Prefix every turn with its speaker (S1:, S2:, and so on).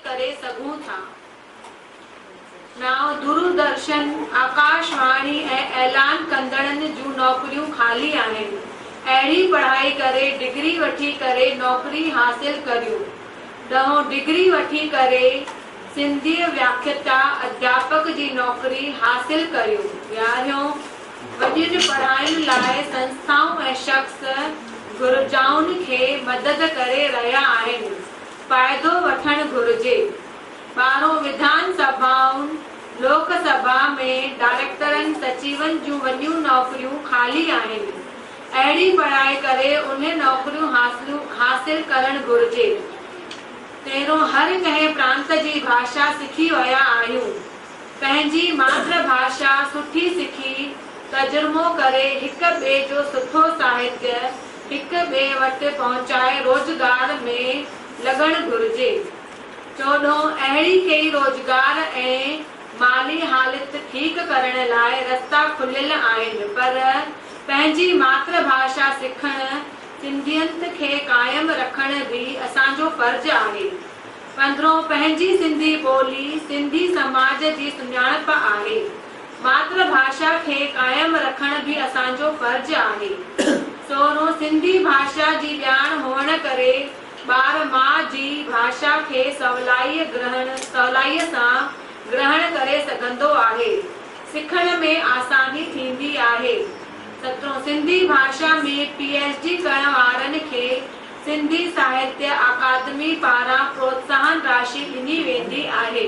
S1: ڪري سگهون ٿا. نائون دوردرشن، آڪاشواڻي ۽ اعلان ڪندڙن جون نوڪريون خالي آهن. اهڙي پڙهائي ڪري ڊگري وٺي ڪري نوڪري حاصل ڪريون. ڏهون ڊگري وٺي ڪري سنڌيء وياکيتا اڌياپڪ جي نوڪري حاصل ڪريو وياهيون. وڏين پڙهاين لاء سنسٿائون ۽ شخص گهرجائن کي مدد ڪري رهيا آهن. فائدو وٺڻ گهرجي. ٻاهرون وڌان سڀائن، لوڪ سڀا، ۾ ڊائريڪٽرن، سچيون جون وڏيون نوڪريون خالي آهن. اهڙي بڻائي ڪري اهي نوڪريون حاصل ڪرڻ گهرجي. پهريون هر ڪنهن پرانت جي ڀاشا سکي ويا آهيون. پنهنجي ماتر ڀاشا سٺي سکي، ترجمو ڪري هڪ ٻئي جو سٺو ساهتيه هڪ ٻئي وٽ پهچائي روزگار ۾ لڳڻ گهرجي. چوڏهون اهڙي ڪئي روزگار ۽ مالي حالت ٺيڪ ڪرڻ لاء رستا کليل آهن پر. پنهنجي ماتر ڀاشا سکڻ، سنڌيت کي قائم رکڻ به اسان جو فرض آهي. پندرهون، پنهنجي سنڌي ٻولي، سنڌي سماج جي سڃاڻپ آهي. ماتر ڀاشا کي قائم رکڻ به اسان جو فرض آهي. سورهون، سنڌي ڀاشا جي ڄاڻ هئڻ ڪري ٻار ماء جي ڀاشا کي سولائيء گرهڻ سولائيء سان گرهڻ ڪري سگهندو آهي. سکڻ ۾ آساني ٿيندي آهي. ستون، سنڌي ڀاشا ۾ پي ايڇ ڊي ڪرڻ وارن کي سنڌي ساهتيه اڪادمي پاران پروتساهن راشي ڏني ويندي آهي.